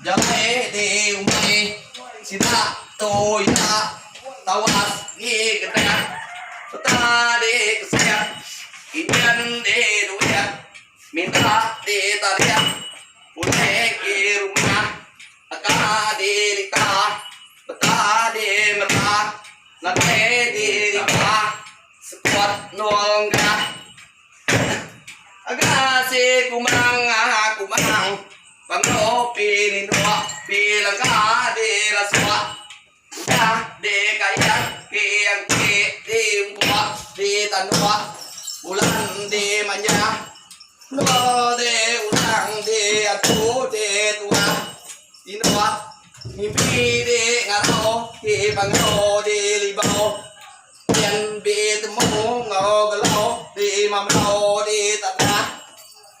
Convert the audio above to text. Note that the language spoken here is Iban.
Jama e di e uma e sida tu iya tawas ngi Gendah peta di e kesik injan di e duit minta di e tarik ulih ke rumah aka di e lika peta di e mera nadai di e riba sekut Nul Ngah. Aga si kumang kumang. Pengu pi ninduk pi lengka di rasuk Udah di kail pi angki di umpuk di tanduk Bulan di manjah endur di urang di atu di tuah Tinduk mimpi di ngarau ti pangau di libau Yen betemu enggau belau di mamrau di tadah